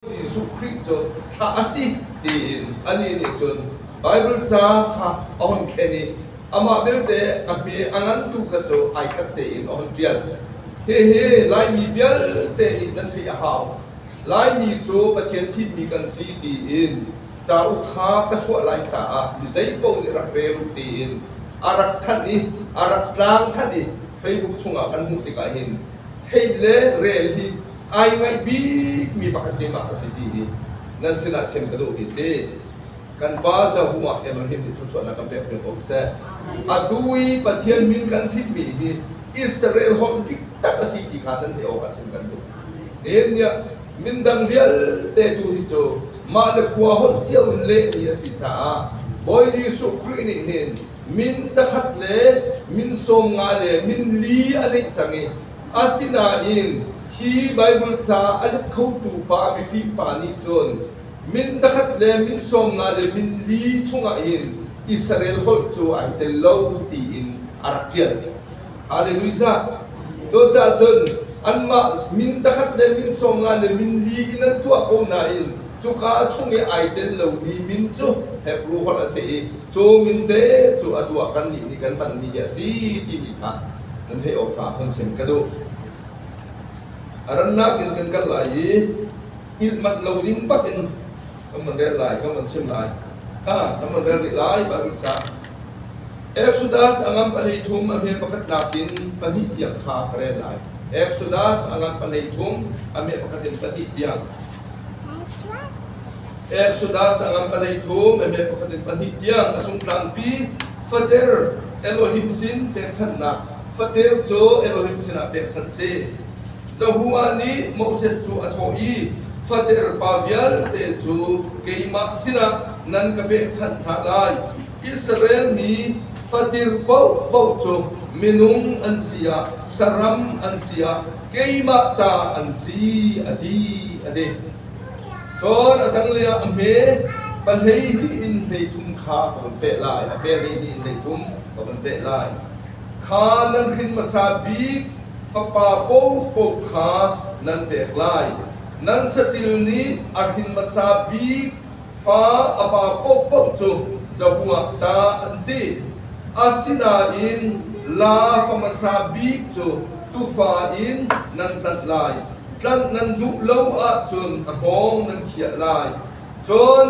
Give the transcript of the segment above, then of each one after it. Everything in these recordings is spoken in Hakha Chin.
Jesuh Khrih cu thlah a si tiin anih nih cun Baibal ca kha a hon thlen i amah belte a hme a ngantu kha cu ai khat tein a hon ṭial. Hihi Laimi vialte nih nan theih a hau. Laimi cu Pathian thimmi kan si tiin cauk kha ka chuah lai caah mi zeipaoh nih rak rel u tiin a rak thanh i a rak tlang thanh i Facebook chungah kan hmuh tikah hin theih le rel hi ai ngaih bikmi pakhat te pa a si ti hi nan sinah chim ka duh hi si kan pa Jahuma Elohim nih thluachuahnak kan pek cio ko seh atu i Pathian min kan chimmi hi Israel holh dik tak a si ti kha nan theih awkah chim kan duh tin nia mindang vialte tu hi cu mah le khua holh cio in leh hi a si caah Bawi Jesuh Khrih nih hin min zakhat le min sawm nga le min li a neih cang i Asinain hi Baibal ca a let khotu pa mifim pa nih cun min zakhat le min sawmnga le min li chungah hin Israel holh cu ai tel lo tiin a rak ṭial. Halleluijah! Cucaah cun anmah min zakhat le min sawmnga le min li in an tuah ko nain cuka chung i ai tel lomi min cu Hebru holh a si i Cu minte cu a tuah kannih nih kan panmi hi a si timi kha nan theih awk hnga hun chim ka duh. A rannak in kan kal lai i ilh manh lo ding bak in kan van rel lai, kan van chim lai. Ha, kan van rel rih lai, Bible ca. Exodus angam pali thum a hme pakhat nak in pahnih tiang kha ka rel lai. Exodus angam pali thum a hme pakhat in pahnih tiang. Exodus a ngan palei thum Amen pakhat in pahnih tiang a cung tlangpi fater Elohim sin pekchanhnak fater cu Elohim sinah pekchanh si. Jehovah nih Moses cu a thawh i fater pa vialte cu keimah sinah nan ka pekchanh hna lai. Israel mi fatir paohpaoh cu minung an si ah, saram an si ah, keimah ta an si a ti a ti. Cun a dang lei ah a hme pan hei tiin hei thum kha ka vun teh lai a pel hei tiin hei thum ka vun teh lai. Kha nan hrin hmasa bik fapa pohpoh kha nan pek lai. Nan saṭil nih a hrin hmasa bik fa a pa paohpaoh cu cabu ah ta an si. Asinain la fa hmasa bik cu tufa in nan hlanh lai. Tlanh nan duh lo ahcun a pawng nan khiah lai. Cun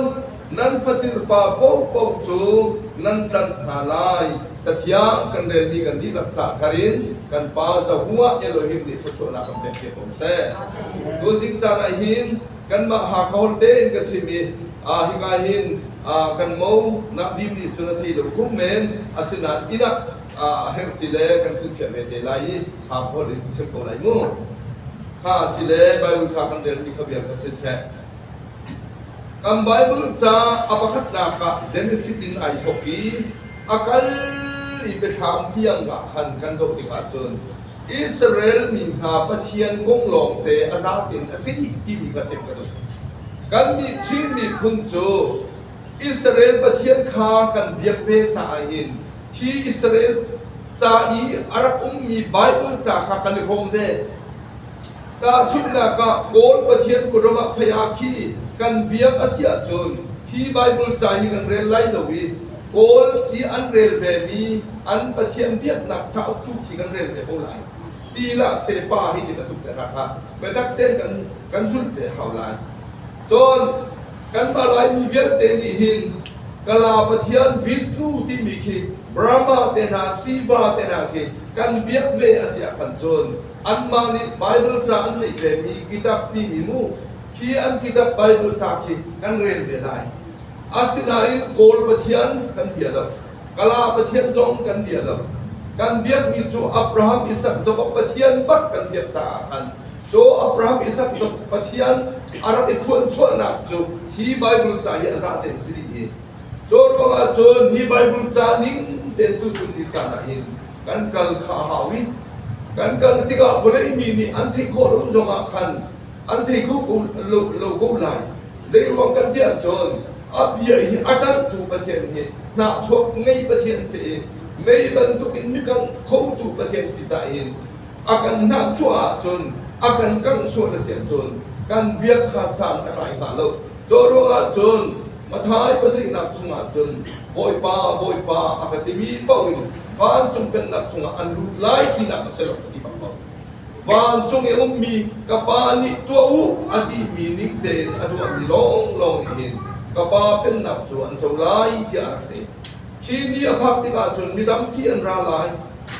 nan fatilpa paohpaoh cu nan tlanh hna lai. Cathiang kan relmi kan dihlak ca thar in kan Pa Zabu ah Elohim nih thluachuahnak kan pek te ko seh. Tuzing caan ah hin kanmah Hakon tein ka chim i hika hin kan mo Nakdim nih cun a thei lo khum men asinain inn ah a herh si le kan thutfiak ve te lai i Hakon in chim ko lai mu kha si le Baibal ca kan relmi kha vial ka si seh kan Baibal ca a pakhatnak ah Genesis in ai thawk i a kal i biathlam tiang ah khan kan zoh tik ahcun Israel mi hna Pathian bung lawngte a zatin a si timi kha chim ka duh. Kannih Chin miphun cu Israel Pathian kha kan biak ve caah hin hi Israel ca i a rak ummi Baibal ca kha kan i hrawm ve. Tahchunhnak ah, Kawl Pathian khuadawm ah phei ah khi kan biak a si ahcun hi Baibal ca hi kan rel lai lo i Kawl i an rel vemi an Pathian biaknak cauk tu khi kan rel te ko lai. Ti lah se pa hi nih ka tuk te hrak ah biatak tein kan, kan zulh te hau lai. Cun kanmah Laimi vialte nih hin Kala Pathian Vishnu timi khi Brahma te hna, Shiva te hna khi kan biak ve a si ah khan cun anmah nih Baibal ca an neih tlemi kitab timi mu khi an kitab Baibal ca khi kan rel ve lai. Asinain Kawl Pathian kan bia lo, Kala Pathian zong kan bia lo. Kan biakmi cu Abraham, Isak, Jakob Pathian bak kan biak caah khan Caw Abraham, Isak, Jakob Pathian a rak i thuanchuahnak cu hi Baibal ca hi a za tein si ding i cu ruangah cun hi Baibal ca ning tein tuchun ni caan ah hin kan kal kha a hau i kan kal tikah vawlei mi nih an theih khawh lo zongah khan an thei ko lo ko lai zei ruang kan tiah cun a bia hi a ṭanhtu Pathian hi hnahchuak ngei Pathian si i mei bantukin mikang khotu Pathian si ta in a kan hnahchuah ahcun a kan kangh sual a si ahcun kan biak kha sang a tlai hnga lo cu ruangah cun Matthai pasarihnak chungah cun Bawipa, Bawipa a ka timi paoh in vancung pennak chungah an lut lai tinak a si lo, a ti bang ko. Vancung i ummi ka Pa nih tuah u a timi ning tein a tuahmi lawnglawng nih hin ka Pa pennak cu an co lai tiah a rak ti. Khi ni a phak tikah cun mi tampi an ra lai.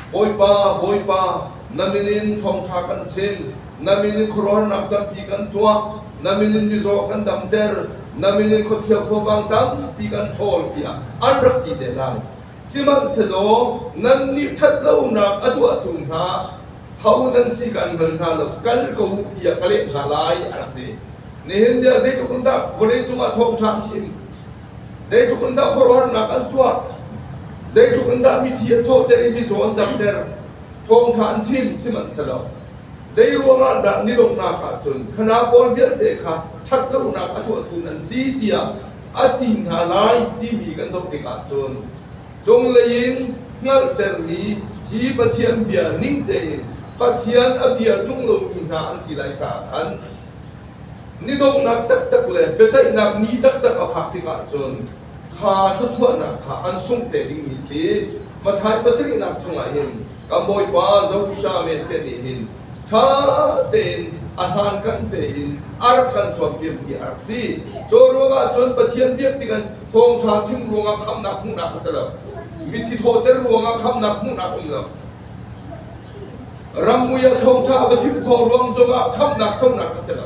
Bawipa, Bawipa, na min in thawngṭha kan chim. Na min in khuaruahnak tampi kan tuah. Na min in mizaw kan damter. Na min in khuachia khuavang tampi kan ṭhawl tiah an rak ti te lai. Sihmanhsehlaw nannih ṭhat lonak a tuahtu hna ho nan si kan bal hna lo, kal ko u tiah ka leh hna lai a rak ti. Nihin ni ah zeitluk in dah vawleicung ah thawngṭha an chim, zeitluk in dah khuaruahnak an tuah, zeitluk in dah mithi an thawhter i mizaw an damter, thawngṭha an chim, sihmanhsehlaw Zeiruangah dah milonghnak ah cun thana pawl vialte kha ṭhat lonak a tuahtu nan si tiah a ti hna lai timi kan zoh tikah cun cunglei in hngalhtermi hi Pathian bia ning tein Pathian a bia ṭung lomi hna an si lai caah khan ni donghnak taktak le biaceihnak ni taktak a phak tikah cun kha thluachuahnak kha an sungh te dingmi khi Matthai pasarihnak chungah hin kan Bawipa Zohra Messiah nih hin ṭha tein a hlankan tein a rak kan cawnpiak ti a rak si. Cu ruangah cun Pathian biak tik an thawngṭha chim ruangah khamhnak hmuhnak a si lo. Mithi thawhter ruangah khamhnak hmuhnak um lo. Rammui ah thawngṭha a va chim khawh ruang zongah khamhnak conak a si lo.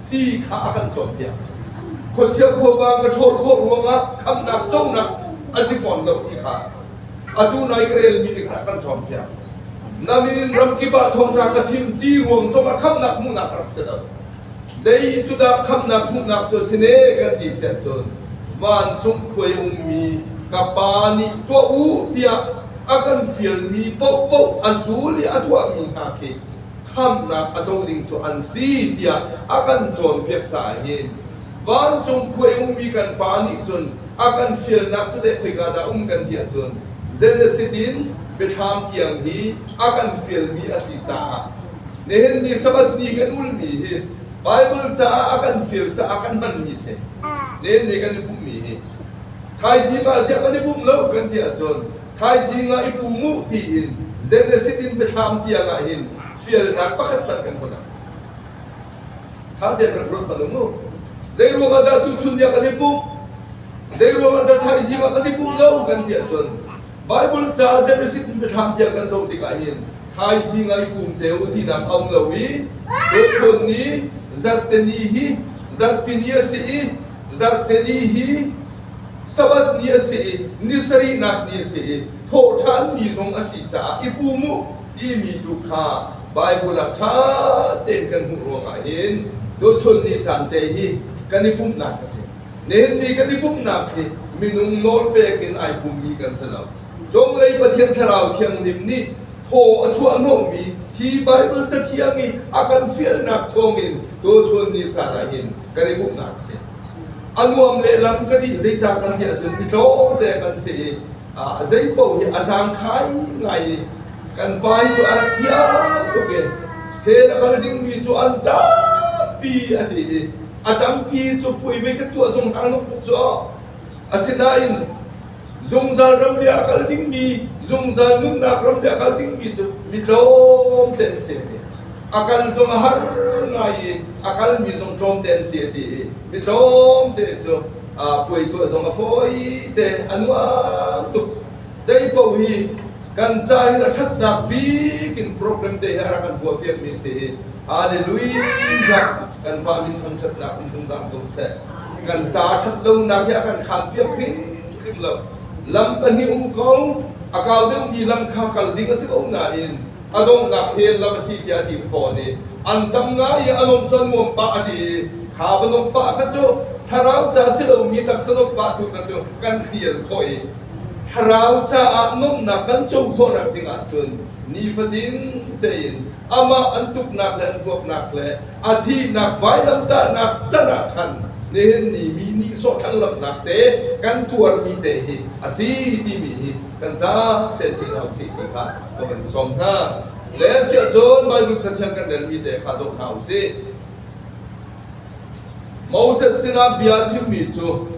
Ti kha a kan cawnpiak. Khuachia khuavang ka ṭhawl khawh ruangah khamhnak conak a si fawn lo ti kha atu nai ka relmi nih kha kan cawnpiak. Nain ramkip ah thawngṭha ka chim ti ruang zongah khamhnak hmuhnak a rak si lo. Zei cu dah khamhnak hmuhnak cu si ne kan ti sian cun vancung khuai ummi ka Pa nih tuah u tiah a kan fialmi paohpaoh a zul i a tuahmi hna khi khamnak a co ding cu an si tiah a kan cawnpiak caah hin vancung khuai ummi kan pa nih cun a kan fialnak cu teh khoika dah um kan ti ahcun Genesis in biathlam tiang hi a kan fialmi a si caah nihin ni Sabbath ni kan ulmi hi Bible caah a kan fial caah kan hman mi si nihin ni kan i pummi hi Thaizing ah ziah kan i pumh lo kan ti ahcun thaizing ah i pum uh tiin Genesis in biathlam tiang ah hin fialnak pakhat pakhat kan hmuh Tha tein rak ruat palung mu. Zeiruang ah dah tuchun dia kan i pumh? Zeiruang ah dah thaizing ah kan i pumh lo kan ti ahcun Bible ca Genesis in biathlam tiang kan zoh tikah hin thaizing ah i pum te u tinak a um lo i tuchun ni zarhteni hi zarhpini a si i Zarhteni hi Sabbath ni a si i ni sarihnak ni a si i thawhṭhan ni zong a si caah i pum u timi tu kha Baibal ah ṭha tein kan hmuh ruangah hin tuchun ni caan te hi kan i pumhnak a si. Nihin kan i pumhnak hi minung nawl pek in ai pummi kan si lo. Cunglei Pathian Thlarau Thianghlim nih thaw a chuahhnawhmi hi Baibal cathiang i a kan fialnak thawngin tuchun ni caan ah hin kan i hmuhnak a si. A nuam lehlam ka ti zeicah kan ti ahcun mi tlawmte kan si i zei paoh hi a zangkhai ngai i kan pa hi cu a thiang tuk i hell a kal dingmi cu an tampi a ti i a tampi cu pui ve ka tuah zung hang tuk cu. Asinain zungzal ram bia a kal dingmi zungzal nunnak ram bia a kal dingmi cu mi tlawm te an si a kal cung a har ngai i a kalmi zong tlawm te an si a ti i mi tlawm te cu puai tuah zong a fawi te a nuam tuk zei paoh hi kan ca hi a ṭhatnak bik in program te hi a rak kan puahpiakmi si hi hallelujah kan pa minthang ṭhatnak in hung zam ko seh. Kan ca ṭhat lonak hi a kan khaan piak hrimhrim lo. Lam pahnih um ko, a kau deuhmi lam kha kal ding a si ko nain a donghnak he lam a si tiah a ti fawn i an tam ngai i a lawmh cu nuam pah a ti i kha va lawmh pah kha cu thlarau ca si lomi taksa lawmh pah tu kha cu kan hlial khawh i thlarau caah nuamhnak kan co khawhnak ding ahcun nifatin tein amah an tuknak le an huapnak le a thihnak vailamtahnak can ah khan nihin ni mi nih sawhthlanlamnak te kan tuarmi te hi a si timi hi kan zate thil hau si ti kha ka van sawm hna le siah cun Baibal cathiang kan relmi te kha zoh hna u si Moses sinah bia chimmi cu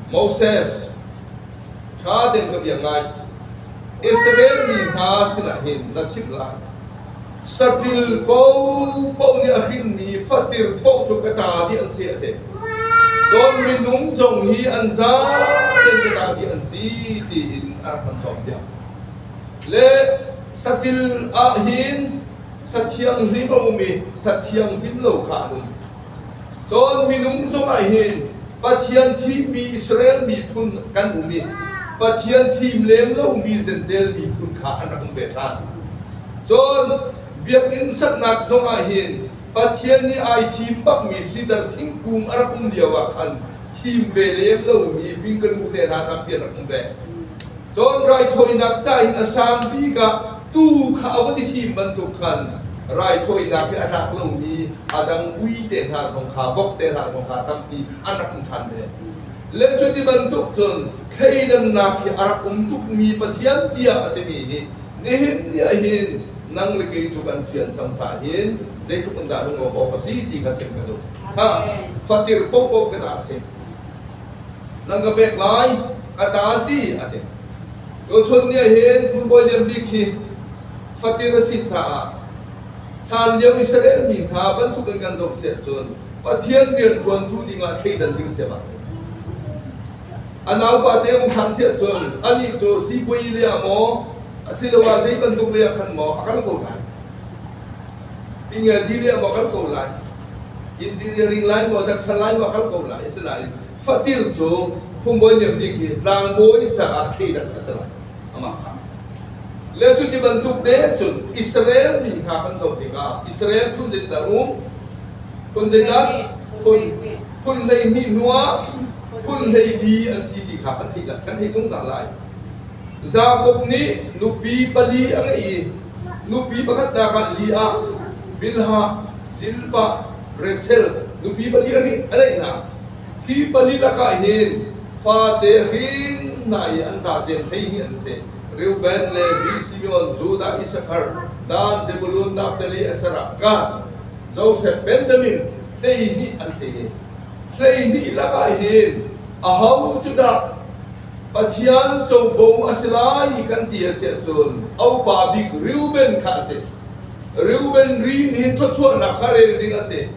Moses ṭha deuh ka biak ngai. Israel mi hna sinah hin na chimh lai. Saṭil paohpaoh nih a hrinmi fatir paoh cu ka ta dih an si a ti. Cun minung zong hi an zaten ka ta dih an si tiin a rak kan cawnpiak. Le saṭil ah hin sa thianghlim a um i sa thianghlim lo kha an um. Cun minung zongah hin Pathian thihmi Israel miphun kan um i Pathian thim lem lomi Zentail miphun kha an rak um ve ṭhan. Cun biakinn saknak zongah hin Pathian nih ai thim bakmi sidar thingkung a rak um lioah khan thim ve lem lomi vingkanu te hna kha pian rak um ve. Cun raithawinak ca in a sang bik ah tuu kha a va ti fim bantuk khan raithawinak hi a tlak lomi a dang ui te hna zong kha vok te hna zong kha tampi an rak um ṭhan ve. Le cuti bantuk cun thleidannak hi a rak um tukmi Pathian bia a simi nih nihin ni ahhin nang le kei cu kan fian cang ca hin zeitluk in dah lungawk awk a si ti kha chim ka duh. Ha, fatir paohpaoh ka dah a si. Nan ka pek lai, ka ta si, a ti. Tuchun ni ahhin tuubawi lian bik hi fatin a si caah hlan lio Israel mi hna bantuk in kan zoh siah cun Pathian rianṭuantu dingah thleidan ding sia ma. A naupa te um ṭhan siah cun anih cu sipuai lei ah maw asiloah zei bantuk lei ah khan maw a kal ko lai. Engineering maw kal ko lai, engineering lai maw doctor lai maw kal ko lai, asinain fatil cu phungbawi niam bik hi tlangbawi caah thleidan a si lai, amah kha. Le cu ti bantuk de cun Israel mi hna kan zoh tikah Israel phun zing tar um, phun zing ah phun phun hlei hnih hnuah phun hlei li an si ti kha kan theih kan theih tung hna lai. Jakob nih nupi pali a ngeih i nupi pakhatnak ah li ah, Bilhah, Jilpah, Rachel nupi pali a ngeih hna. Hi pali lakah hin fate hrinnak i an tate hleihnih an si. Reuben le mi Simeon, Judah, Issachar, Dan, Zebulun, Naftali, Asherah, Gad, Josef, Benjamin hleihnih an si. Hleihnih lakah hin aho cu dah Pathian covo a si lai kan ti a si ahcun a upa bik Reuben kha a si. Reuben rin hi thluachuahnak kha rel ding a si.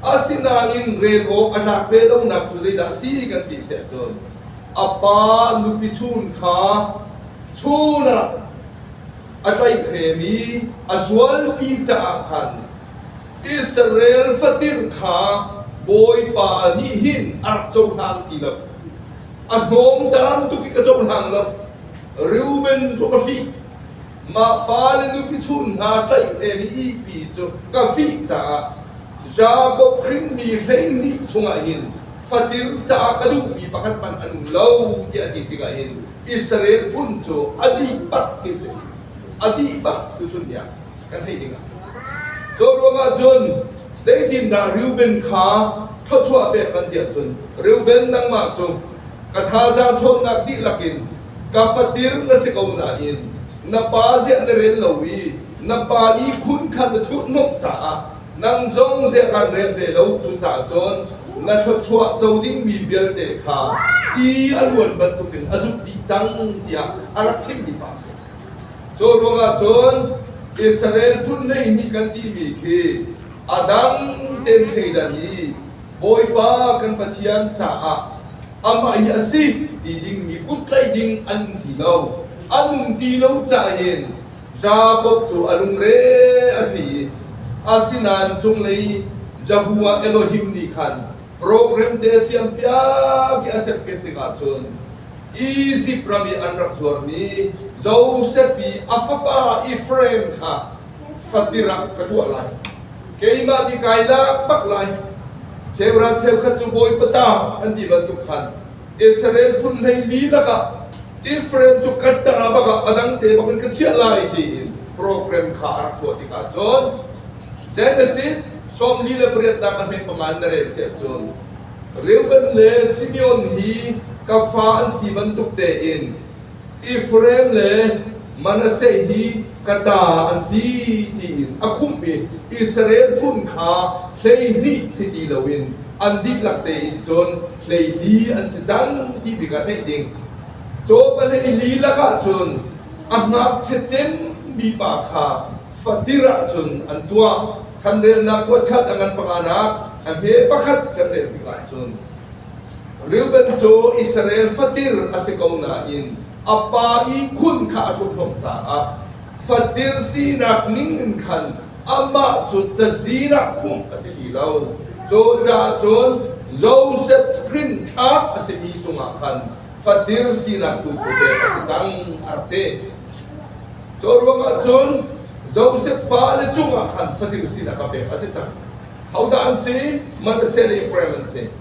Asinain rel awk a tlak ve lonak cu zeidah a si kan ti a si ahcun a pa nupi chun kha chun ah a tlaih vemi a sual ti caah khan Israel fatir kha Bawipa nih hin a rak cohlang ti lo. a hnawm tam tuk in a cohlang lo Reuben cu ka fih mah pa le nupi chun hna tlaih len i ipi cu ka fih caah Jakob hrinmi hleihnih chungah hin fatir caah ka duhmi pakhat hmanh an um lo tiah a ti tikah hin Israel phun cu a dihpak ti a si a dihpak tu cu niah kan theih ding ah. Cu ruang ah cun zeitindah Reuben kha thawchuah pek kan ti ahcun Reuben nangmah cu ka thazaang ṭhawnnak dihlak in ka fatir na si ko nain na pa ziah na rel lo i na pa i khun khan na thurhhnawmh caah nang zong ziah kan rel ve lo cucaah cun na thluachuah co dingmi vialte kha ti a luan bantukin a zumh dih cang tiah a rak chimmi pa a si. Cu ruangah cun Israel phun hleihnih kan timi khi a dang tein thleidan i Bawipa kan Pathian caah amah hi a si ti dingmi kut tlaih ding an um ti lo. An um ti lo caah hin Jakob cu a lungre a thei i asinain cunglei Jehovah Elohim nih khan program te siang piak a serpiat tikah cun Egypt ram i an rak zuarmi Josepi a fapa Efraim kha fatirang ka tuah lai keimah nih kai lak bak lai cheural cheukhat cu bawipa ta an ti bantuk khan Israel phun hleili lakah Israel cu katter bak ah a dang te bak in ka chiah lai tiin program kha a rak tuah tik ah cun Genesis sawm li le pariat nak a hme panga in na rel siah cun Reuben le Simeon hi ka fa an si bantuk tein Ephraim le Manasseh hi ka ta an si tiin a khumh i Israel phun kha hlei hnih si ti loin an dihlak tein cun hleili an si cang ti tikah theih ding. Caw pahleili lak ahcun a ngakchiat cem mi pa kha fatir ahcun an tuah. Chanrelnak kuat khat a ngan panganak a hme pakhat kan rel tik ahcun Reuben cu Israel fatir a si ko nain a pa i khun kha a thumhlawm caah fatil sinak ning in khan amah cu cazinak khumh a si ti lo. Cu caah cun Joseph rinthlak a simi cungah khan fatil sinak tu cu pek a si cang a rak ti. Cu ruangah cun Joseph fale cungah khan fatil sinak a pek a si cang. Hodah an si? Manasseh le Efraim an si.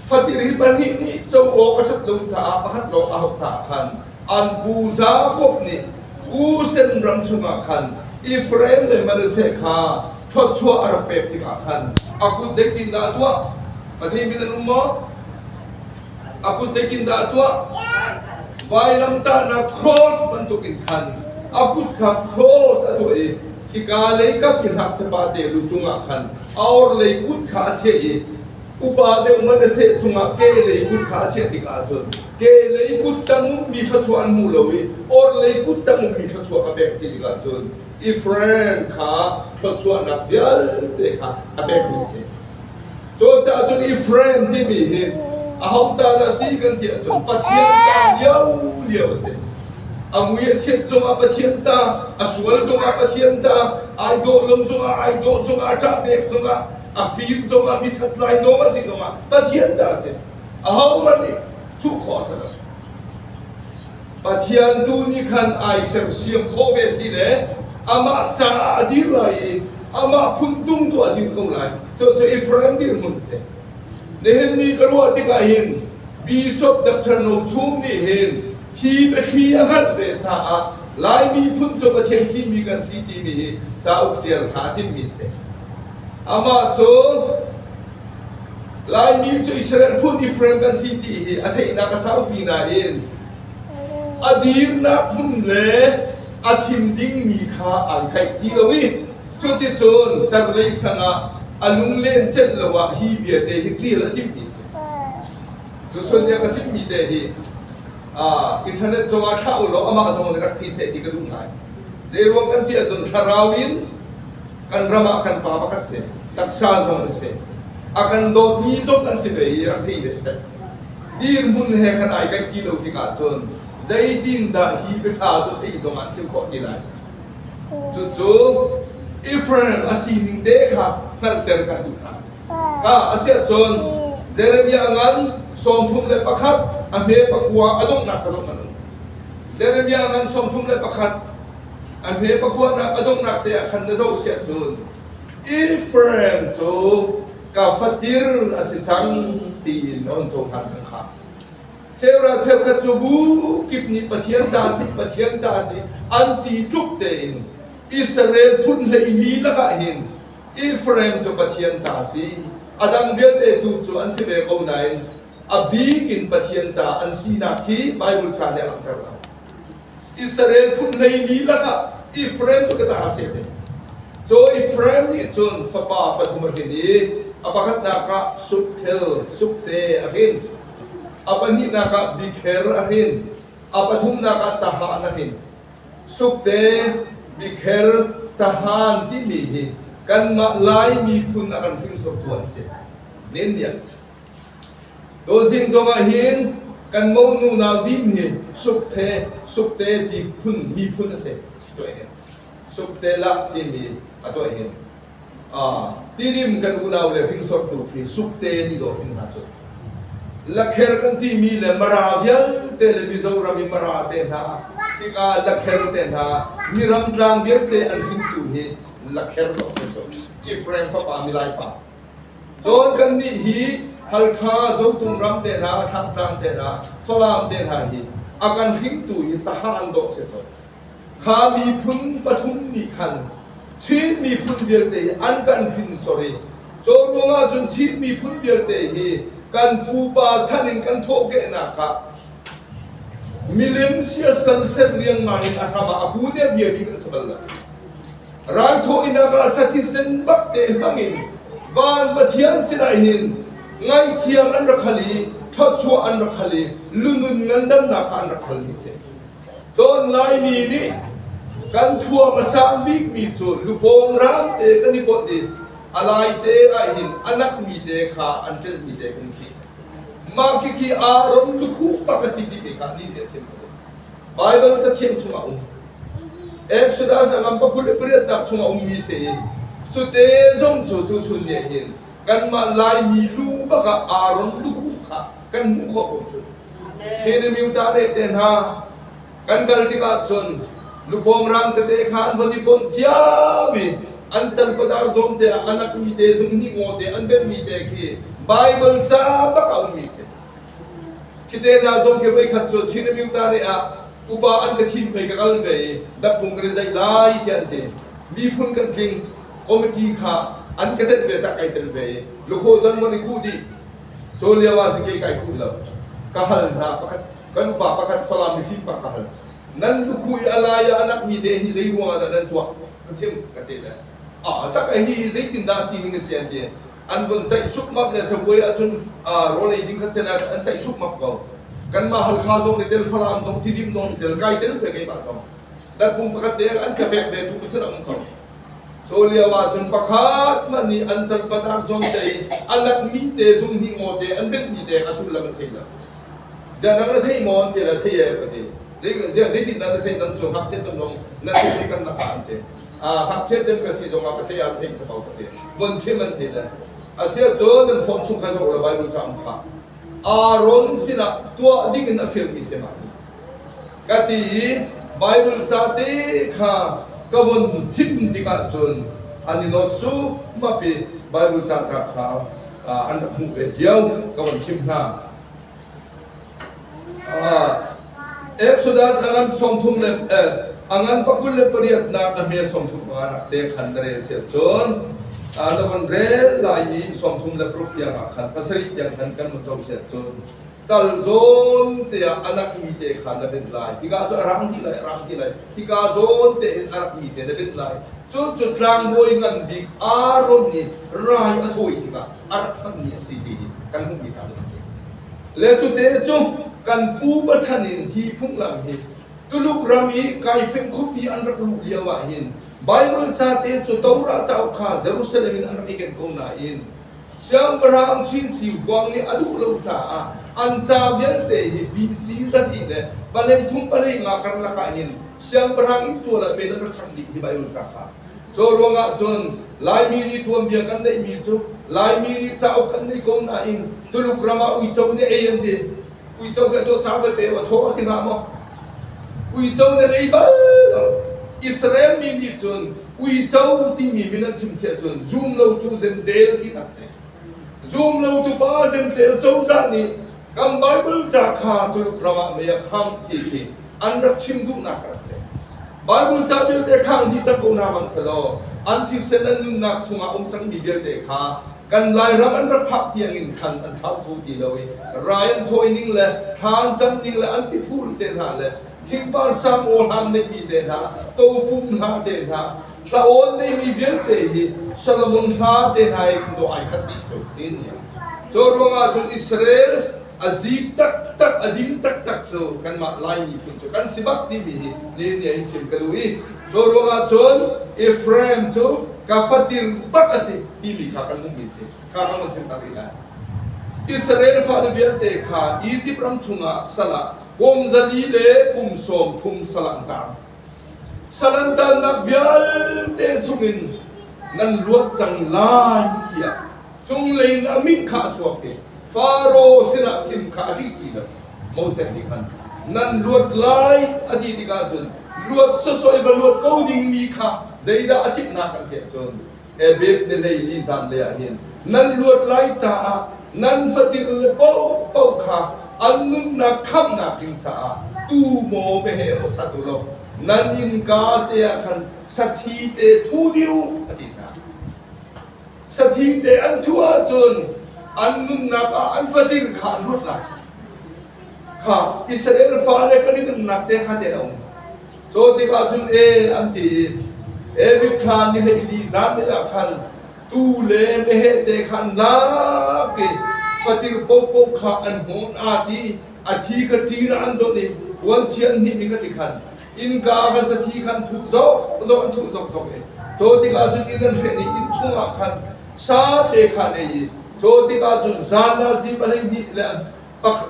Fatil hi pahnih nih co awk a ṭhat lo caah pakhat lawng a hauh caah khan an pu Jakob nih Kusen ram chungah khan Efraim le Manasseh kha thawchuah a rak pek dingah khan a kut zeitindah tuah? Pathian min an um maw? A kut zeitindah tuah? Vailamtahnak cross bantukin khan a kut kha cross a tuah i khika lei kap in hngakchapa te lu cungah khan a orlei kut kha a chiah i upa deuh Manasseh cungah ke lei kut kha a chiah tik ahcun kehlei kuttang ummi thluachuah an hmu lo i orhlei kuttang ummi thluachuah a pek si tikah cun i friend kha thluachuahnak vialte kha a pekmi a si cucaah cun i friend timi hi aho ta dah si kan ti ahcun pathian ta lio lio a si a mui a chiat cungah pathian ta a sual cungah pathian ta ai dawh lo cungah ai dawh cungah ṭah pek cungah a fir cungah mithat lai nawl a si cungah pathian ta a si ahohmanh nih thuh khawh a si lo. Pathian tu nih khan ai semsiam khawh ve si le amah caah a dir lai i amah phun tung tu a dir ko lai. Cu cu Israel dirhmun si. Nihin ni ka ruah tikah hin Bishop Dr. No Chung nih hin hi biathli a hngalh ve caah Laimi phun cu Pathian thimi kan si timi hi cauk ṭial hna a timmi si. Amah cu Laimi cu Israel put different kan si ti hi a theihnak a saupi nain a dirnak hmun le a thim dingmi kha ai theih ti lo i cuticun tarlei sangah a lunglen celh lo ah hi vialte hi ṭial a timmi a si. Tuchun nih a ka chimhmi te hi uh, internet cungah thlah u law amah zong nih rak thi seh ti ka duh ngai. Zeiruang kan ti ahcun thlarau in Kan ram ah kan pa pakhat si, taksa zong a si. A kan dawtmi zong an si ve i rak thei ve seh. Dirhmun he kan ai kan ti lo tik ahcun zeitindah hi biaṭha cu thei zong ah chim khawh ti lai. Cucu Efraim a sining te kha hngalhter kan duh hna. Ka a siah cun Jeremiah ngan sawmthum le pakhat a hme pakua a donghnak ka zong an um. Jeremiah ngan sawmthum le pakhat A hme pakuahnak a donghnak te ah khan na zoh si ahcun Ephraim cu ka fatir a si cang tiin a on cohlan cang kha. Cheuhra cheukhat cu bu kip nih Pathian ta si, Pathian ta si an ti tluk tein Israel phun hleimi lakah hin Ephraim cu Pathian ta si a dang vialte tu cu an si ve ko nain a bik in Pathian ta an sinak hi Baibal ca nih a langhter lo. Israel phun hlei lilak ah Efraim cu ka ta a si te. Cu Efraim nih cun fapa pathum a hrin i a pakhatnak ah Sukthel, Sukte a hrin. A pahnihnak ah Bikher a hrin. A pathumnak ah Tahan a hrin. Sukte, Bikher, Tahan timi hi kanmah Lai miphun a kan hringsortu an si. Nin nih Dawhzing zong ahhin kan monu nau din hi Supte, Supte ti phun miphun a si tuah hin. Supte lak timi a tuah hin. Tidim kan unau le hringsawrtu khi Supte ti dawh hin hna cu. Lakher kan timi le Mara vialte le Mizoram i Mara te hna tikah Lakher te hna Miram tlang vialte an hringtu hi Lakher dawh si cu. Cifreng fapa milai pa. John kannih hi Halkha Zotung ram te hna, Thlangtlang te hna, Falam te hna hi a kan hringtu hi taha an dawh si ko. Kha miphun pathum nih khan Chin miphun vialte hi an kan hrin sori. Cu ruang ahcun Chin miphun vialte hi kan pupa chan in kan thawhkehnak ah milem siasal set riangmang in a hram ah a pu ne bia bik an si bal lo. Ralthawh in a ka satisen bak te hmangin Van Pathian sinah hin ngaihthiam an rak hal i ṭhawchuah an rak hal i lunun ngandamnak an rak hal mi si. Cawn Laimi nih kan thuam a sang bikmi cu lupawng raam te kan i pawt i a lai te ahhin a nakmi te kha an ṭelhmi te kan khi. Mah khi khi aa rom lukhu bak a si ti te kha nih nih a chim. Bible Cathiang chung a um. Exodus a ngam pa kul le pariat nak chung a ummi si in cute zong cu tu chun ne hin kanmah Laimi lu bak ah Aaron lu kha kan hmuh khawh ko cu. Shenemiu ta re te hna kan kal tikah cun lupawng rang tete khan von i pom ciam i an cal padar zawm te ah an akmi te zung ni ngaw te an benmi te khi Bible ca bak a ummi si. Khite dal zong khi voikhat cu Chin Remuta ne ah upa an ka thim pei ka kal ve i dakpung kan i zaih lai tiah an ti miphun kan tling committee kha an ka tenh ve cak kai tel ve i lukhaw zon mon i khuh dih cu lio ah ti kai khuh lo ka hal hna pakhat kan upa pakhat Falam mi fim pak ka hal nan lukhu i alai ah anak mi te hi lei ruang ah nan tuah ka chim ka te le a tak hi leitin dah si ning a si an ti an vun ceih sukmap le cabuai ahcun rawl ei ding khat sen ah an ceih sukmap ko kanmah halkha zong nih tel falam zong tidim zong nih tel kai tel pe ke ko dan pum pakhat te an ka vek ve tu pasal ang ko so liam ahcun pakhat man nih an cal patak zong tei alat mi te zum hi ngo te an bek mi te ka sul lam thei la ja nang la thei mo an te la thei e pati ding je dei tin nan thei nan chu hak set zong na thei kan na ka an te ngakchia cem ka si zongah ka hlei ah theih sa ko ka ti von chim an ti le asiahcun nan form chung kha zoh la Bible cang kha Aaron sinah tuah ding in a firm ti se ma ka ti i Bible ca te kha ka von thim tikah cun an i not su mapi Bible ca ta kha an rak hmuh ve cio ka von chim hna Exodus angan sawmthum le angan pakul le pariat nak a hme sawmthum pa nak te khan na rel sian cun na von rel lai i sawmthum le paruk tiang ah khan pasarih tiang khan kan mo cho sian cun sal zawn te ah anak mi te khan na bit lai hika cu a rang ti lai rang ti lai hika zawn te in anak mi te na bit lai cu cu tlangbawi ngan bik Aaron nih rai a thawi tikah a rak hmangmi a si ti kan hmuhmi kha a ti. Le cute cu kan pu pachan in hi phunglam hi Tuluk ram i kaifeng khuapi an rak luh lio ahhin Baibal sa te cu Torah cauk kha Jerusalem in an rak i ken ko nain siangpahrang Chin Si Huang nih a duh lo caah an ca vialte hi BC zahnih le palei thum palei nga karlak ahhin siangpahrang inn tual ah men an rak khangh dih hi Baibal ca kha Cu ruangah cun Laimi nih tuanbia kan neihmi cu Laimi nih cauk an nei ko nain Tuluk ram ah uico nih ei an ti. Uico nih tuah ca belte a thaw a ti hnga maw? Uico nih ei bal lo. Israel mi nih cun uico timi min an chim siah cun zum lotu zemdel tinak si. Zum lotu pa zemdel cozah nih kan Bible ca kha Tuluk ram ah mei a khangh ti khi an rak chim duhnak a rak si. Baibal ca vialte kha an dih ko hna bang selaw an thisen an nunnak chungah um cangmi vialte kha kan Lairam an rak phak tiangin khan an thlau kho ti lo i rai an thawi ning le thla an cam ning le an tiphul te hna le thingpar sang ohan neihmi te hna topum hna te hna hlawn neihmi vialte hi Solomon hla te hna i dawh ai khat dih cu tin cu ruangah cun Israel a zi taktak a din taktak cu kanmah lai miphun cu kan si bak timi hi nihin ni in chim ka duh i cu ruangah cun Ephraim cu ka fatir bak a si timi kha kan hmuhmi si kha kan kan chim tak rih lai Israel fale vialte kha Egypt ram chungah salah kum zali le kum sawm thum salangtang salantannak vialte chungin nan luat cang lai tiah Cunglei in a min kha a chuak i Faro sinah chim kha a ṭih ti lo. Moses nih khan nan luat lai a ti tikah cun luat sawsawih va luat ko dingmi kha zeidah a chimhnak an theih cun Ebed-melei ni zanlei ah hin nan luat lai caah nan fatil le paohpaoh kha an nunnak khamhnak ding caah tuu maw meheh aw that u law nan innka te ah khan sathi te thu dih u a ti hna. Sathi te an thuh ahcun an nunnak ah an fatin kha an ruat lai. Kha Israel fa le kan i dinnak te ha te a um. Caw tikah cun e an ti i Evit kha niheili zanlei ah khan tu le meheh te khan lak i fatir pohpoh kha an hmu na ti a thi ka ṭi na an donh i puan chia hnih nih ka ti khan Innka van sakhi khan thuh zong zong an thuh zokzok i Caw tikah cun inn an hreh ni inn chungah khan sate kha an ei i Caw tikah cun zandazi pahleihnih le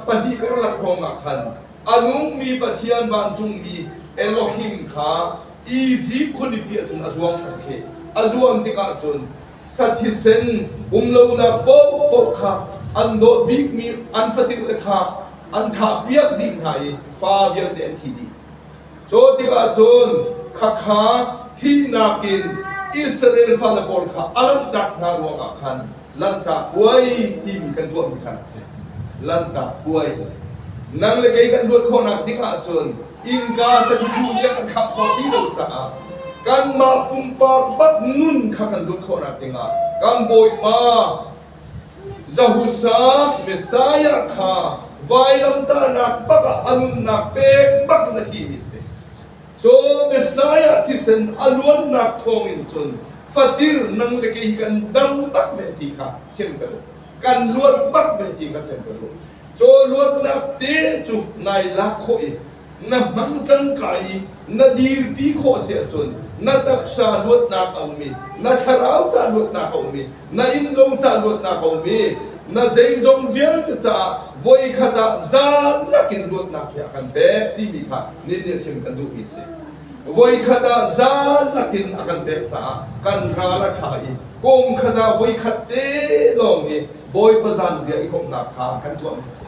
pahnih karlak hrawngah khan a nungmi Pathian vancungmi Elohim kha Izipt khualipi ah cun a zuang sak khi a zuam tikah cun sathisen umlonak paohpaoh kha an dawt bikmi an fatin le kha an thahpiak dih hna i fa vialte an thi dih cu tikah cun khakha thihnak in Israel fale pawl kha a lanhtak hna ruangah khan lanhtak puai timi kan ruahmi khan a si lanhtak puai nang le kei kan ruat khawhnak ding ahcun innka saduhthah nih an khah khawh ti lo caah kanmah pumpak bak nun kha kan luat khawhnak dingah kan Bawipa Zahusa Messiah kha vailamtahnak bakah a nunnak pek bak na thimi si. Cho Messiah thisen a luannak thawngin cun fatir nang le kei kan dam tak ve ti kha thiam ka duh. kan luat bak ve ti ka cem ka duh caw luatnak te cu nai lak khawh i na hmang tangka i na dirpi khawh si ahcun na taksa luatnak a ummi na thlarau ca luatnak a ummi na innlung ca luatnak a ummi na zeizong vialte caah voi khat ah zaan nakin luatnak hi a kan pek timi kha nin nih chim kan duhmi si voikhat ah zalak in a kan pek caah kan ral a ṭha i kum khat ah voikhat te lawng hi Bawipa zanriah i komhnak kha kan tuah mi a si.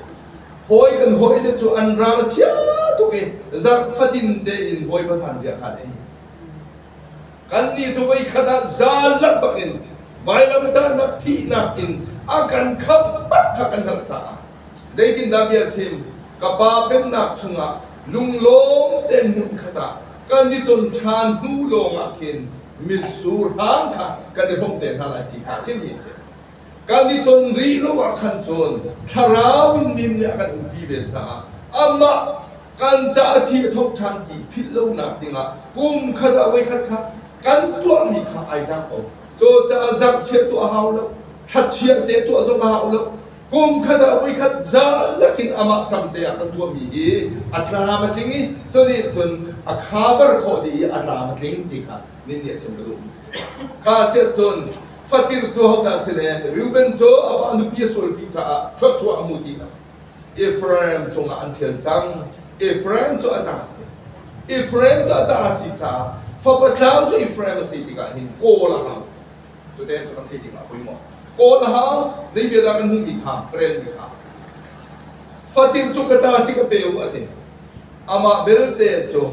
Hawi kan hawi te cu an ral a chia tuk i zarh fatin tein Bawipa zanriah kha an ei. Kannih cu voikhat ah zalak bak in vailamtahnak thihnak in a kan khampat kha kan hngalh caah Zeitindah bia chim? Ka pa pennak chungah lunglawm tein hmunkhat ah kan i ton ṭhan hnu lawngah khin mitsur hram kha kan i hrawmh te hna lai ti kha a chimmi a si. Kan i ton rih lo ah khan cun thlarau nin nih a kan umpi ven caah amah kan caah thi a tho ṭhan ti philh lonak dingah kum khat ah voikhat kha kan tuahmi kha ai zang ko. Cucaah zarhchiat tuah a hau lo, thlachiah te tuah zong a hau lo, Kum khat ah voikhat zalak in amah cangte ah kan tuahmi hi a tlam a tling i cunih cun a khavar khawh dih i a tlam a tling ti kha ninniah chim ka duhmi si. Kha siah cun Fatir cu hodah si le Reuben cu a pa nupi a sulpi caah thluachuah a mu ti lo. Ephraim cungah an ṭhial cang. Ephraim cu a ta a si. Ephraim cu a ta a si caah fapa tlau cu Ephraim a si tikah hin kawl a hau. Cu te cu kan theih ding a poi maw? Kawl a hau, zei vialah kan hmuhmi kha, ka relmi kha. Fatin cu ka ta si ka pe u a ti. Amah belte cu,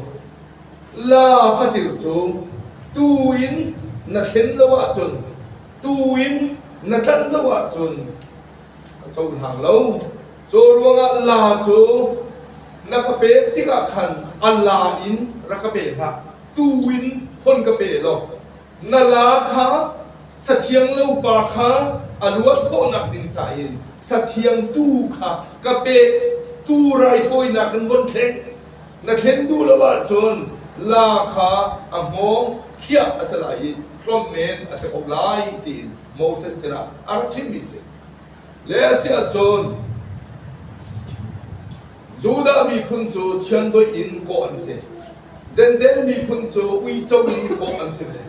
La fatin cu, tu in na thlen lo ahcun, tu in na tlanh lo ahcun, ka cohlang lo. Cu ruangah la cu na ka pek tikah khan a la in rak ka pe hlah. Tu in hon ka pe law, na laa kha sathiang lopa kha a luat khawhnak ding ca in sathiang tu kha ka pe tu raithawinak in von thleng na thlen duh lo ahcun laa kha a hmawng khiah a si lai i hlawm men a si ko lai tiin Moses sinah a rak chimmi a si le a si ahcun Judah miphun cu chiandoih in kawh an si. Zendel miphun cu uico in kawh an si ve.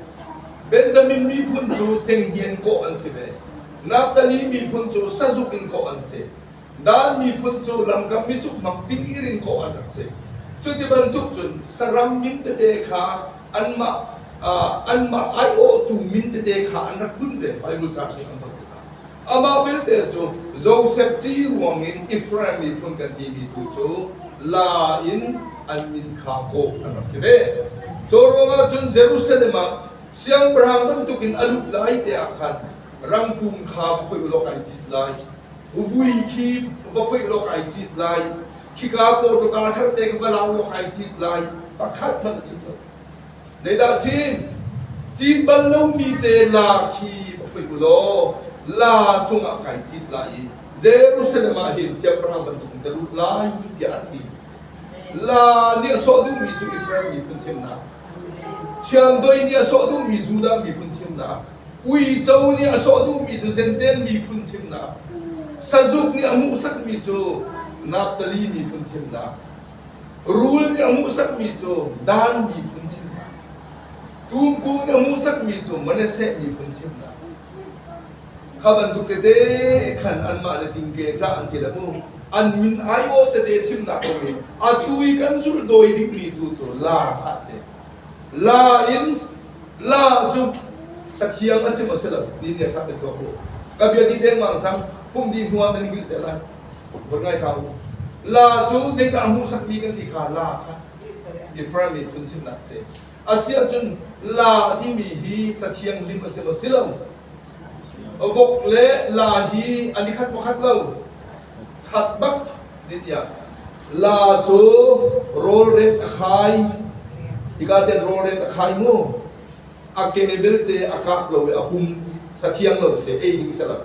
Benjamin miphun cu cenghngian kawh an si ve. Naftali miphun cu sazuk in kawh an si. Dan miphun cu lamkam micukmak tingir in kawh an rak si. Cuti bantuk cun saram min tete kha anmah anmah aiawhtu min tete kha an rak bunh ve. Baibal caang nih an zoh tikah. Amah belte cu Josef ṭih ruang in Efraim miphun kan timi tu cu la in an min kha kawh an rak si ve. Cu ruangah cun Jerusalem ah siangpahrang bantuk in a lut lai te ah khan rangkum kha va khoih u law kai cit lai, vuvui khi va khoih u law kai cit lai, khika kawṭawka tharte kha va lau u law kai cit lai, pakhat hmanh a chim lo. Zeidah Chin? Cin bal lomi te la khi va phui u law la cungah kai cit lai i Jerusalem ah hin siangpahrang bantuk in ka lut lai tiah an ti. La nih a sawh duhmi cu Israel miphun chimnak, Thiangdoi nih a sawh duhmi Judah miphun chimnak, Uico nih a sawh duhmi cu Jentail miphun chimnak, Sazuk nih a hmuhsakmi cu Naftali miphun chimnak, Rul nih a hmuhsakmi cu Dan miphun chimnak, Tumku nih a hmuhsakmi cu Manasseh miphun chimnak. Kha bantuk tete khan anmah le dingke ṭah an ke le mu. An min aiawh tete chimnak a um i atu i kan zulh dawi dingmi tu cu la a si. La in la cu sathiang a si maw si lo, ti nih a ṭhap in tuak u. Ka bia dih dengmang cang, pumh dih hnuah nan hngilh te lai. Vun ngai ka u. La cu zeidah hmuhsakmi kan ti kha la kha different miphun sinnak si. Asiahcun la timi hi sa thianghlim a si maw si lo? A vok le la hi an i khat pakhat lo? Khat bak din tiah. La cu rawlrek a khai. Hika tiang rawlrek a khai mu. A ke belte a kap lo i a hum. Sa thiang lo si, ei ding si lo.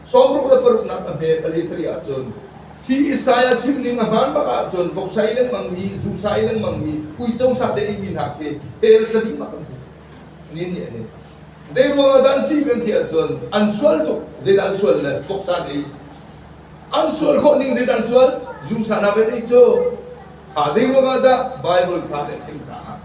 sawmruk le paruknak a hme pali sarih ahcun hi Isaiah chimning a hmaan bak ahcun voksai lengmangmi, zusai lengmangmi, uico sa te ingmi hna khi ter tladim bak an si. Ni nih an in. Zei ruang ah dah an si kan ti ahcun an sual tuk, zeidah an sual le voksa nih an sual khawh ning zeidah an sual, zusa na bet ei cu kha zei ruang ah dah Bible sa nih chim caah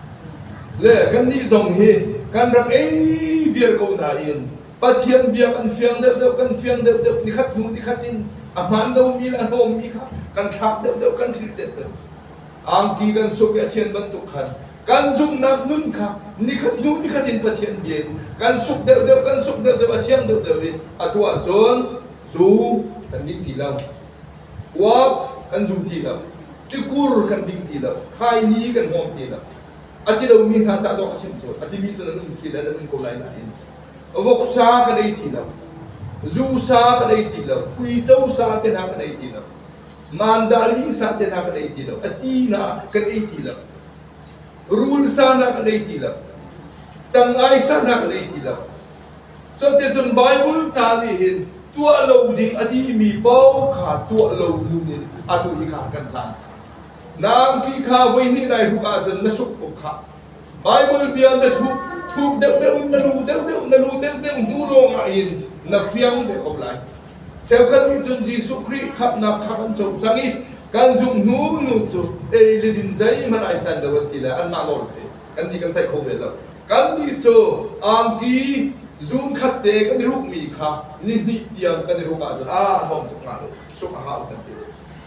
le kan nih zong hi kan rak ei vial ko nain Pathian biak an fiang deuhdeuh kan fiang deuhdeuh nikhat hnu nikhat in a hmaan lomi le a hnawmmi kha kan thlak deuhdeuh kan hril deuhdeuh angki kan suk i a thian bantuk khan kan zumhnak nun kha nikhat hnu nikhat in Pathian bia in kan suk deuhdeuh kan suk deuhdeuh a thiang deuhdeuh i a tuah cun zu kan ding ti lo uap kan zu ti lo tikur kan ding ti lo khaini kan hawm ti lo a ti lomi hna cah dawk a chim cu a timi cun an um si le an um ko lai nain voksa ka nei ti lo zu sa ka nei ti lo uico sa te hna ka nei ti lo mandalin sa te hna ka nei ti lo ati na ka nei ti lo rul sa na ka nei ti lo cangai sa na ka nei ti lo so te cun bible ca nih hin tuah lo ding ati mi pau kha tuah lo nun in atu hi kha kan hlan nang phi kha voi ni nai ru ah cun na suk ko kha Baibal bia na thup thup deuhdeuh in na lu deuhdeuh na lu deuhdeuh hnu lawngah in na fiang deuh ko lai. Cheukhat nih cun Jesuh Khrih khamhnak kha kan co cang i kan zumh hnu nu cu ei le din zeihmanh ai san lo an ti le anmah nawl a si kan ti kan ceih kho ve lo. Kannih cu angki zunkhat te kan i rukmi kha ni hnih tiang kan i ruk ahcun aa hong tuk hnga lo sungh a hau kan si.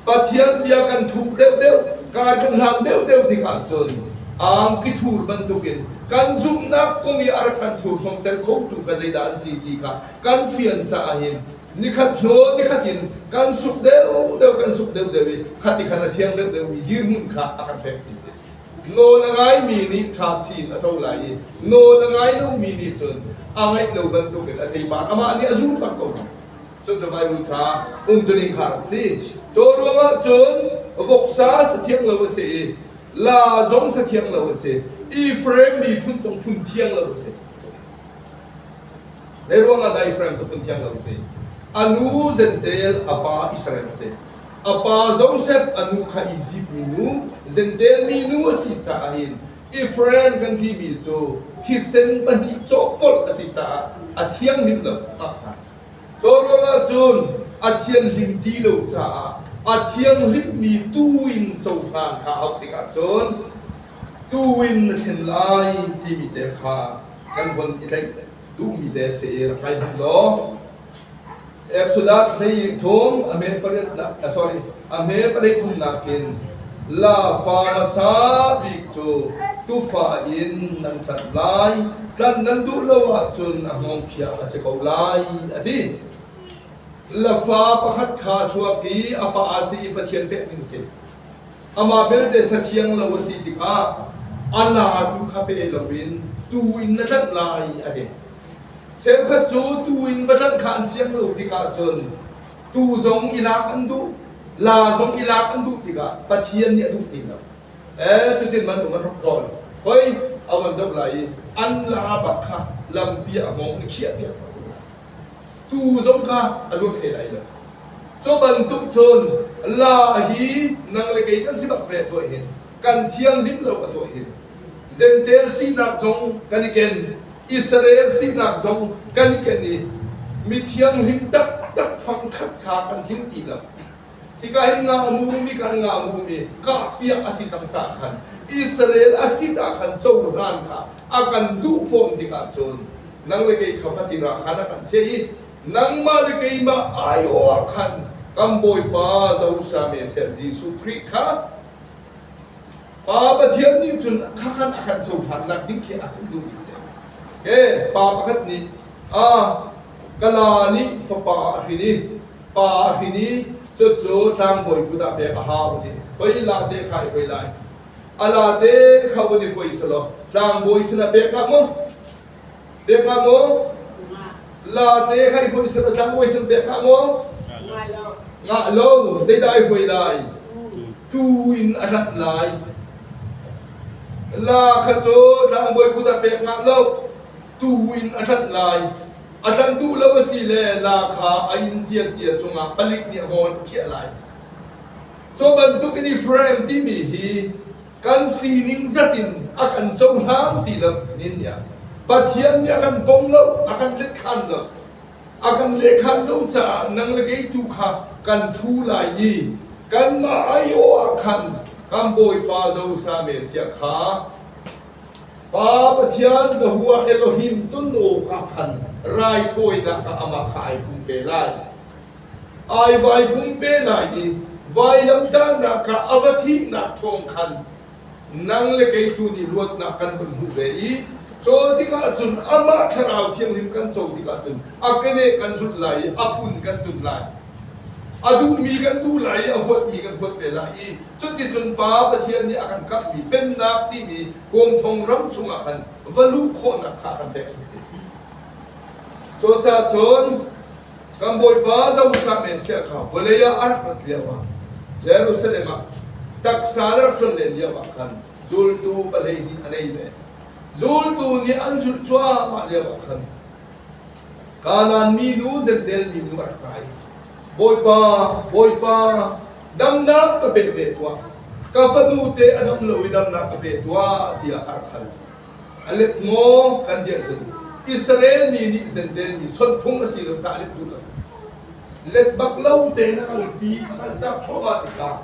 Pathian bia kan thup deuhdeuh, kai hnanghlam deuhdeuh tik ahcun angki thur bantukin kan zumhnak kum i a rak kan furhnomter khotu ka zeidah an si ti kha kan fian caah hin nikhat hnu nikhat in kan suk deuhdeuh kan suk deuhdeuh i khati khan a thiang deuhdeuhmi dirhmun kha a kan pek ti si. Nawl a ngaimi nih tha chin a co lai i nawl a ngai lomi nih cun a ngaih lo bantukin a theibar amah nih a zur bak ko cang. Cucu Baibal ca umtuning kha rak si. Cu ruangah cun voksa sathiang lo a si i la zong sathiang lo a si. Ephraim miphun zong phun thiang lo a si. Lei ruangah dah Ephraim cu phun thiang lo a si? A nu Zentel, a pa Israel a si. A pa Joseph, a nu kha Egypt mi nu, Zentel mi nu a si caah hin Ephraim kan timi cu thisen pahnih cawhkolh a si caah a thianghlim lo. Ah, Cu ruangah cun a thianhlim ti lo caah a thianghlimmi tu in cohlan kha a uk tikah cun tu in na thlen lai timi te kha kan von i tlaih duhmi te si rak kai hmanh law Exodus hlei thum a me pariat na sorry a hme palei thumnak in la fa hmasa bik cu tufa in nan tlanh lai tlanh nan duh lo ahcun a hngawngkhiah a si ko lai a ti la fa pakhat kha chuak i a pa a si i pathian pek ding si amah belte sathiang lo a si tikah a na tu kha pe loin tu in na tlanh lai a ti cheukhat cu tu in va tlanh kha an siang lo tikah cun tuu zong i lak an duh, laa zong i lak an duh tikah Pathian nih a duh ti lo. Eh, cutin manung an rak zawl. Hoi, a von zoh lai i an laa bak kha lampi ah a hmong in khiah piak ko. Tuu zong kha a luat hlei lai lo. Cu bantuk cun laa hi nang le kei kan si bak ve tuah hin, kan thianghlim lo a tuah hin, Zentail sinak zong kan i ken, Israel sinak zong kan i ken i mi thianghlim taktak fangkhat kha kan him ti lo. Hika hin nga mumi kan nga mumi kah piak a si cang ca khan Israel a si ta khan cohlan kha a kan duh fawn tikah cun nang le kei kha fatirah khan a kan chiah i nangmah le keimah aiawh khan kan Bawipa Zosam Jesuh Khrih kha Pa Pathian nih cun khakhan a kan cohlan nak ding khi a duh mi si. Okay, pa pakhat nih a kala nih fapa a hrin i pa a hrin i cu cu tlangbawi kut ah pek a hau ti. Poi la te khai poi lai. Ala te kha wani poi salo tlangbawi sina pek ka mu. Dek nga mu. La te hai hui sen otlang hui sen bek nga mu. Nga lo zeidah ai hui lai. Tu in a tat lai. La kha cu tlang boi khut a pek nga lo. Tu in a tat lai. A tlanh duh lo a si le la kha a in cia cia cungah palik nih a hawn thiah lai. So bantuk in i frame timi hi kan sining zat in a kan cohlang ti lo nin ya Pathian nih a kan pom lo a kan lekhan lo a kan lekhan lo caah nang le kei tu kha kan thu lai i kanmah aiawh ah khan kan bawipa zosa me sia kha Pa Pathian zahua Elohim tun o ka khan raithawinak ka amah kha ai pum pe lai Ai vaivung pe lai i vailamtahnak ah a va thihnak thawng khan nang le kei tu nih luatnak kan hun hmuh ve i cawl tikah cun amah thlarau thianghlim kan co tikah cun a keneh kan zulh lai i a phun kan tum lai. A duhmi kan duh lai i a huatmi kan huat ve lai i cuticun Pa Pathian nih a kan kamhmi Pennak timi kawngthong ram chungah khan va luh khawhnak kha kan pek a si. Cucacun Kan Bawipa Zosang men sia kha vawlei ah a rak rat lio ah Jerusalem ah taksa na rak tlon len lio ah khan zultu palei nih a nei ve. Zultu nih an zulh cuahmah lio ah khan Kanaan mi nu Zendel mi nu a rak kai. Bawipa, Bawipa, damnak ka pe ve tuah. Ka fanu te a dam lo i damnak ka pe tuah tiah a rak hal. A let maw kan dirh cun Israel mi nih Zenten mi chawnh phung a si lo caah let duh let bak lo tein a kalpi a kaltak thluahmah tikah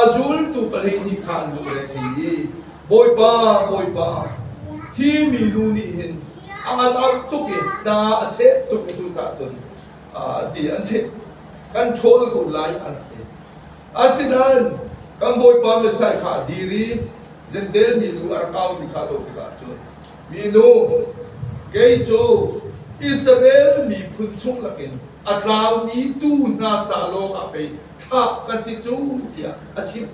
a zultu pahnih nih khan duh le thei i Bawipa Bawipa hi minu nih hin a ngan out tuk i ta a cheh tuk i cu cah cun ti an cheh kan ṭhawl ko lai an ti. Asinain kan Bawipa Messiah kha a dir i Jentail mi cu a rak au ti kha a dawt tikah cun minu, kei cu Israel miphun chung lakin a tlaumi tuu hna ca lawngah pei thlah ka si cu tiah a chim.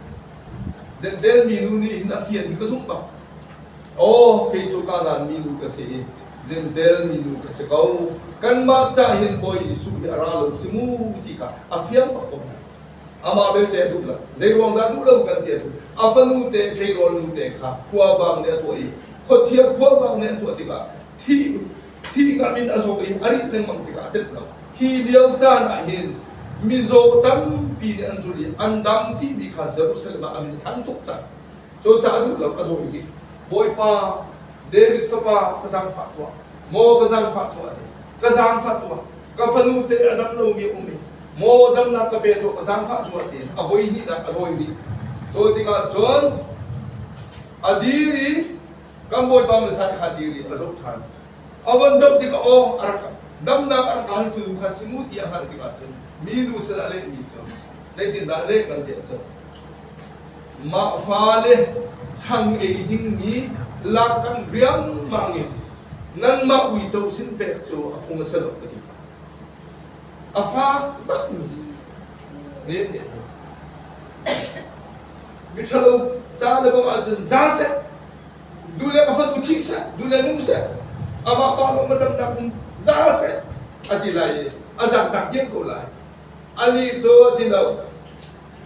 Jentail minu nih hin a fian hi ka zumh bang, aw kei cu Kanaan minu ka si i Jentail minu ka si ko. Kanmah ca hin Bawi Jesuh hi a ra lo si mu ti kha a fiang bak ko hna. Amah belte a duh lo. Zeiruang dah duh lo kan ti ahcun a fanu te, tleirawl nu te kha khuavang nih a tuah i khuathiang khuavang nih an tuah tikah thi thi ngam in a zok i a rih lengmang tikah a celh lo. Hi lio caan ahhin mizaw tampi nih an zul i an dam timi kha Jerusalem ah a min thanh tuk cang. Cucaah duh lo ka dawi hi. Bawipa, David fapa, ka zaangfah tuah. Maw ka zaangfah tuah, ka zaangfah tuah. Ka fanu te a dam lomi a um i maw damnak ka pek awk a zaangfah hnu ah tiin a voi hnihnak a dawi rih. Cu tikah cun a dir i kan Bawipa Messiah kha dir i a zoh ṭhan. A von dam tikah aw a rak damnak a rak hlantu nu kha si mu ti a hngalh tikah cun minu sal a lehmi cu zeitindah leh kan tiah cun mah fale chang ei dingmi lak kan riangmang in nanmah uico sin pek cu a phung a si lo ka ti. A faak bakmi men nih a doh. Miṭhalo ca le bawmh ahcun za seh, du le ka fanu thi seh, du le nu seh, amah pa lawng madamnak um za seh, a ti lai i a zaangtak diam ko lai. Anih cu a ti lo,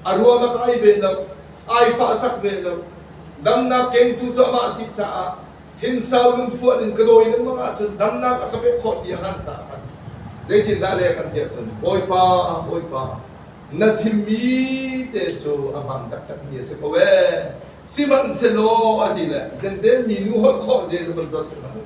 a ruam a kai ve lo, ai fahsak ve lo, damnak kengtu cu amah a si caah Thinsau lungfuah in ka dawi lengmang ahcun damnak a ka pek khawh ti a hngalh caah kan zeitindah le kan tiah cun Bawipa, Bawipa, na thimmi te cu a hmaan taktakmi a si ko ee. Sihmanhsehlaw a ti le zenten mi nu holh khawh zel vun dot cun u.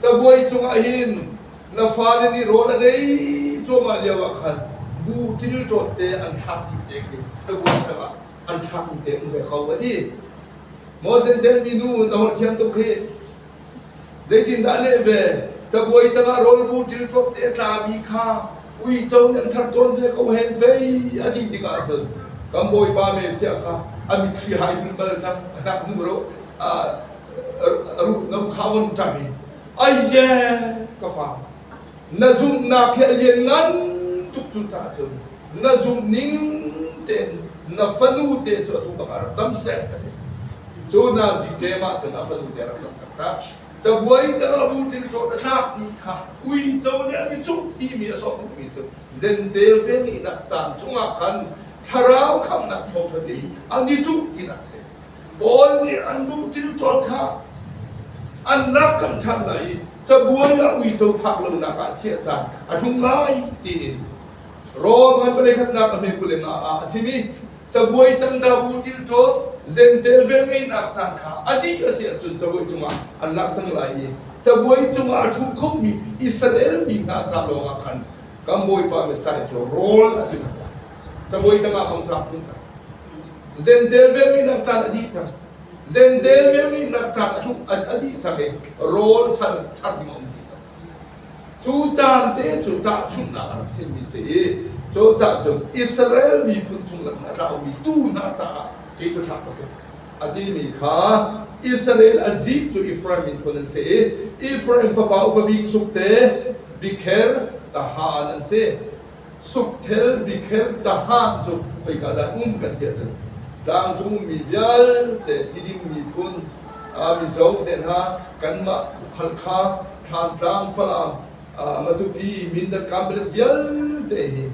Cabuai cungah hin na fale nih rawl a dei cuahmah lio ah khan bu ṭil ṭawtte an thlak dih te khi cabuai tangah an thlakung te um ve ko a ti Moses den mi nu na hon thiam tuk hi zeitin dah leh ve cabuai tanga rol bu til tlok te tla mi kha uico nan thar ton ve ko hen pe a ti tikah cun kan bawipa me sia kha ami khi hai dul mal cang anak nu ro ru no khawon tami ai ye ka fa Na zumhnak hi a lian ngan tuk cu caah cun na zumh ning tein na fanu te cu atu bakah rak tam seh ka ti cu hna ziṭem ah cun a fanu te rak rak taktak cabuai te rak lut in hlawt a tlak mi kha uico nih an i cuh timi a sawm duhmi cu zentel ve nih nak caan chungah khan thlarau khamnak thawngṭha ti an i cuh tinak a si Paul nih an duh tilṭawn kha an rak kan ṭhan lai i cabuai ah uico phak lonak ah chiah caan a tlung lai tiin Rom an paleikhatnak a hme kule nga ah a chim i cabuai tangdabu tilṭawn zentel velngeihnak caan kha a dih a si ahcun cabuai cungah an lak cang lai i cabuai cungah a ṭhu khomi Israel mi hna ca lawngah khan kan Bawipa Messiah cu rawl a si cang lai cabuai tangah hong tlak tlung cang Zentel velngeihnak caan a dih cang. Zentel velngeihnak caan a, a dih cang i rawl char, char ding a um ti cang. Cu caan te cu tahchunhnak a rak chimmi si i cu caan cu Israel miphun chungah a tlaumi tuu hna caah kei cu tlak ka si. A timi kha Israel a zik cu Efraim miphun an si i Efraim fapa upa bik suk te Bikher Tahan an si. Sukthel dikherh tahan cu khoika dah um kan ti ahcun tlangcung mi vialte tiding miphun mizo te hna kanmah Halkha, Thlantlang, Falam, Matupi, Mindat, Kanpetlet vialte hi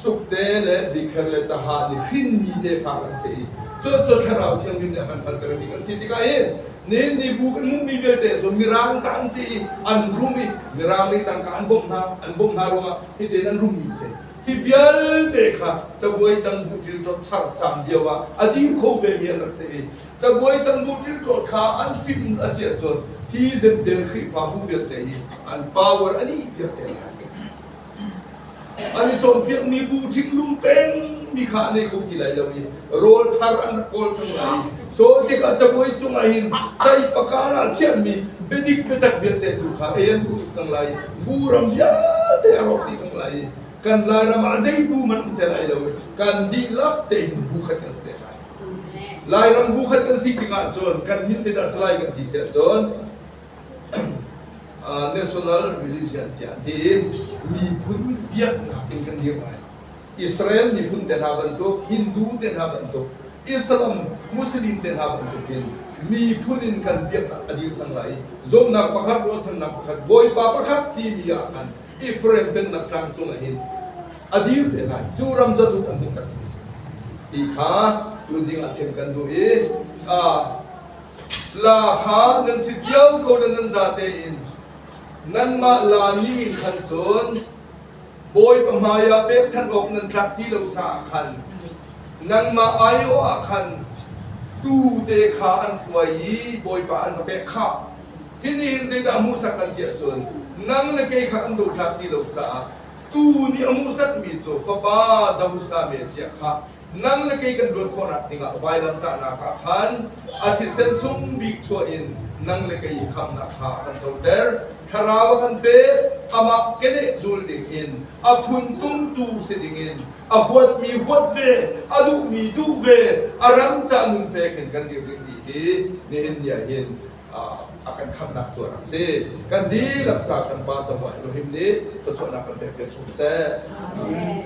sukte le dikher le taha nih hrinmi tefa kan si i cu thlarau thianghlim nih a kan faltermi kan si tikah hin Nenni bu kan hmuhmi vialte cu mirang ta an si i an rum i mirang nih tangka an bawmh hna an bawmh hna ruangah hitin an rummi a si. Hi vialte kha cabuai tangbu ṭilṭawt char caan lio ah a dir kho vemi an rak si i cabuai tangbu ṭilṭawt kha an fim a si ahcun hi Zentel Khrihfabu vialte hi an power a dih piak te lai. An i cawnpiakmi bu thinlung pengmi kha an ei kho ti lai lo i rawlthar an rak kawl cang lai. Caw tikah cabuai cungah hin caipa kar ah chiahmi biadik biatak vialte tu kha ei an duh tuk cang lai. Bu ram vialte a rawk dih cang lai i kan Lairam ah zei bu hmanh um te lai lo i kan dihlak tein bu khat kan si te lai. Lairam bu khat kan si tik ahcun kan min te dah salai kan ti si ahcun National Religion tiah ti miphun biaknak in kan dir lai. Israel miphun te hna bantuk, Hindu te hna bantuk, Islam, Muslim te hna bantuk hin miphun in kan biaknak a dir cang lai i zumhnak pakhat, ruahchannak pakhat, Bawipa pakhat timi ah khan Efraim pennak tlangcung ah hin a dir te lai. Cu ram zaduk a hmuh tak ti a si. Ti kha tun ding ah chim kan duh i La hra nan si cio ko nan nan za tein nanmah la ni min khan cun Bawipa hmaiah pekchanh awk nan tlak ti lo caah khan nangmah aiawh ah khan tu te kha an hruai i Bawipa an ka pek kha hinihin zeidah hmuhsak an tiah cun nang le kei kha an dotlak ti lo caah tu nih a hmuhsakmi cu fapa Zosame a siak kha nang le kei kan luat khawhnak dingah vailamtahnak ah khan a thisen sung bik chuah in nang le kei i khamnak kha kan coter. Thlarau a kan pe, amah keneh zul dingin, a phun tumtu si dingin, a huatmi huat ve, a duhmi duh ve, a rangca nun pek in kan dir dingmi hi nihin ni ahhin a kan khamnak cu a rak si. Kan dihlak ca kan Pa cabuah Elohim nih thluachuahnak kan pek peng ko seh. Amen.